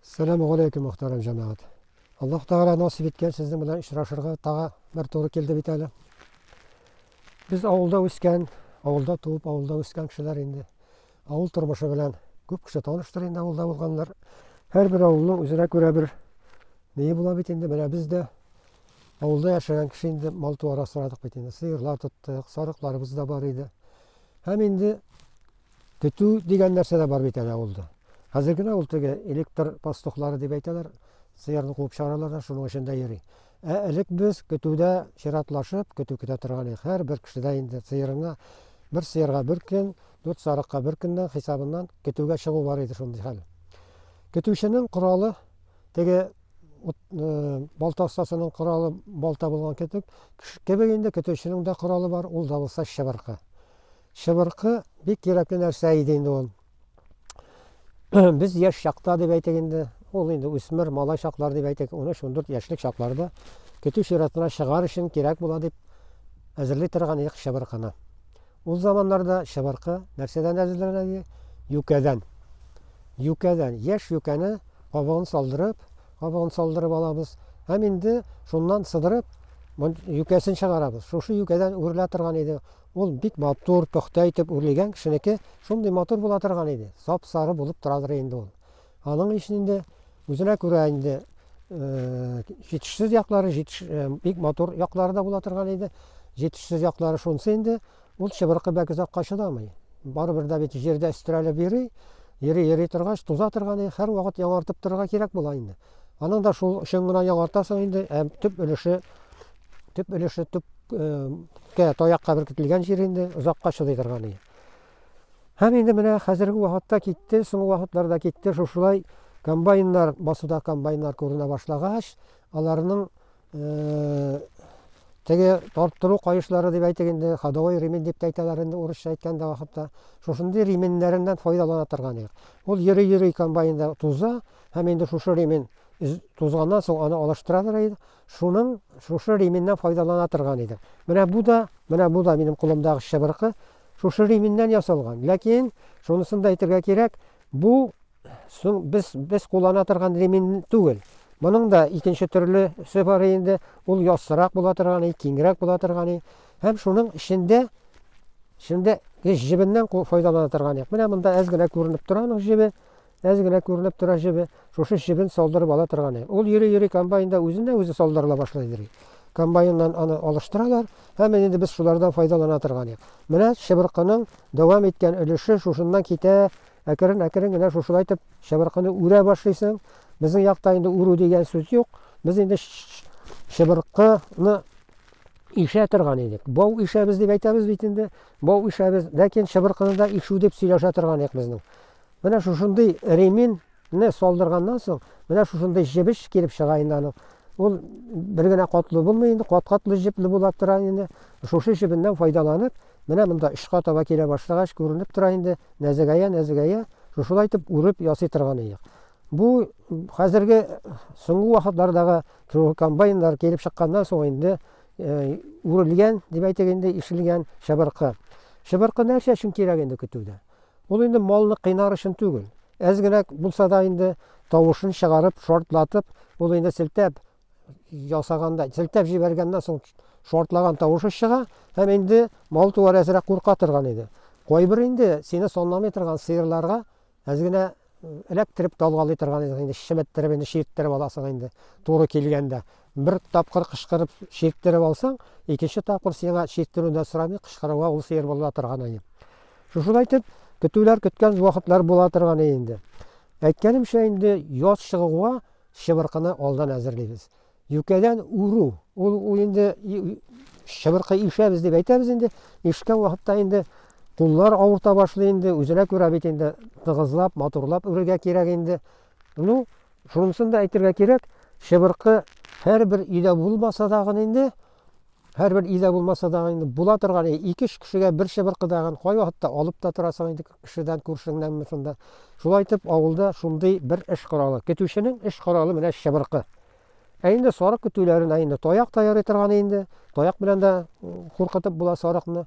Сәлам галәйкүм мөхтәрәм җәмәгать. Аллаһ Тәгалә насип иткән сезнең белән очрашырга тагы бер туры килде бит әле. Без авылда үскән, авылда туып, авылда үскән кешеләр инде. Авыл тормышы белән күп кеше таныштыр инде авылда булганнар. Һәрбер авылның үзенә күрә бер ние була бит инде. Менә без дә авылда яшәгән кеше инде мал-туар асрадык бит инде. Сыерлар тоттык, сарыкларыбыз да бар иде. Һәм инде Көтү дигән нәрсә дә бар бит әле авылда. Хәзер генә ул теге электр пастухлары дип әйтәләр, сыерны куып чыгаралар да, шуның өчен дә йөри. Ә элек без көтүдә чиратлашып, көтү көтә торган идек. Һәр бер кешедә инде сыерыңа, бер сыерга бер көн, дүрт сарыкка бер көннән хисабыннан көтүгә чыгу бар иде шундый хәл. Көтүченең коралы теге ут, э, балта остасының коралы балта булган кебек, кебек инде көтүченең дә коралы бар, ул да булса чыбыркы. Чыбыркы бик кирәкле нәрсә иде инде ул. Без яшь чакта дип әйтик инде, ул инде үсмер, малай чаклар дип әйтик, 13-14 яшьлек чакларда көтү чиратына чыгар өчен кирәк була дип әзерли торган идек чыбыркыны. Ул заманнарда чыбыркы нәрсәдән әзерләнә иде? Юкәдән. Юкәдән. Яшь юкәне кабыгын салдырып, кабыгын салдырып алабыз. Һәм инде шуннан сыдырып, юкәсен чыгарабыз. Шушы юкәдән үрелә торган иде. Ул бик матур, пөхтә итеп үрлегән кешенеке шундый матур була торган иде, сап-сары булып торадыр инде ул. Аның өчен инде үзенә күрә инде җитешсез яклары, җитеш, бик матур яклары да була торган иде. Җитешсез яклары шунсы инде, ул чыбыркы бәк озакка чыдамый. Барыбер дә бит җирдә өстерәлеп йөри, йөри-йөри торгач, туза торган иде, һәрвакыт яңартып торырга кирәк була инде. Аның да шул өчен генә яңартасың инде, ә төп өлеше төп өлеше төпкә таякка беркетелгән җир инде озакка чыдый торган иде. Һәм инде менә хәзерге вакытта китте, соңгы вакытларда китте, шушылай комбайннар, басуда комбайннар күренә башлагач, аларның Теге тарттыру кайышлары дип әйтик инде, ходовой ремень дип әйтәләр инде урысча әйткәндә вакытта. Шушындый ременьнәреннән файдалана торган идек. Ул йөри-йөри комбайнда туза һәм инде шушы ремень тузганнан соң аны алыштыра тора идек. Шуның шушы ременьнән файдалана торган идек. Менә бу да, менә бу да минем кулымдагы чыбыркы шушы ременьнән ясалган. Ләкин шунысын да әйтергә кирәк, Бу соң без без куллана торган ремень түгел. Моның да икенче төрлесе бар инде. Ул яссырак була торганы, киңрәк була торганы. Һәм шуның эчендә эчендә еш җебеннән файдалана торганы. Менә монда әз генә күренеп тора аның җебе. Әз генә күренеп тора җебе. Шушы җебен салдырып ала торганы. Ул йөри-йөри комбайнда үзенә үзе салдырыла башлый. Комбайннан аны алыштыралар. Һәм менә инде без шулардан файдалана торган идек. Менә чыбыркының дәвам иткән өлеше шушыннан китә, әкрен-әкрен генә шушылай итеп чыбыркыны үрә башлыйсың. Безнең якта инде үрү дигән сүз юк. Без инде чыбыркыны ишә торган идек. Бау ишәбез дип әйтәбез бит инде. Бау ишәбез, ләкин чыбыркыны да ишү дип сөйләшә торган идек безнең. Менә шушындый ремин Не салдырганнан соң, менә шушындый җебеш килеп чыга инде аның. Ул бер генә катлы булмый инде, кат-катлы җепле була тора инде. Шушы җебеннән файдаланып, менә монда очка таба килә башлагач, күренеп тора инде, нәзегәя-нәзегәя, шушылай итеп үреп ясый торган иек. Бу хәзерге соңгы вакытлардагы комбайннар килеп чыкканнан соң инде үрелгән, дип әйтик инде, ишелгән чыбыркы. Чыбыркы нәрсә өчен кирәк инде көтүдә? Ул инде малны кыйнар өчен түгел. Әз генә булса да инде тавышын чыгарып, шортлатып, ул инде селтәп ясаганда, селтәп җибәргәннән соң шортлаган тавышы чыга, һәм инде мал-туар әзрәк курка торган иде. Кайбер инде сине санламый торган сыерларга әз генә Эләктереп талгалый торган идең инде, чеметтереп инде чирттереп аласың инде. Туры килгәндә бер тапкыр кышкырып чирттереп алсаң, икенче тапкыр сиңа чирттерү дә сорамый, кышкыруга ул сыер була торган иде. Шушылай итеп, көтүләр көткән вакытлар була торган иде инде. Әйткәнемчә инде яз чыгуга чыбыркыны алдан әзерлибез. Юкәдән уру. Ул, ул инде чыбыркы ишәбез дип әйтәбез инде. Ишкән вакытта инде куллар авырта башлый инде, үзенә күрә бит инде тыгызлап, матурлап үрергә кирәк инде. Ну, шунысын да әйтергә кирәк, чыбыркы һәрбер өйдә булмаса да гын инде, һәрбер өйдә булмаса да инде була торган, ике кешегә бер чыбыркы да гын кай вакытта алып та торасың инде. Кешедән күршеңнәнме шунда. Шулай итеп, авылда шундый бер эш коралы. Көтүченең эш коралы менә чыбыркы. Ә инде сарык көтүләренә инде таяк та ярый торган инде. Таяк белән дә куркытып була сарыкны.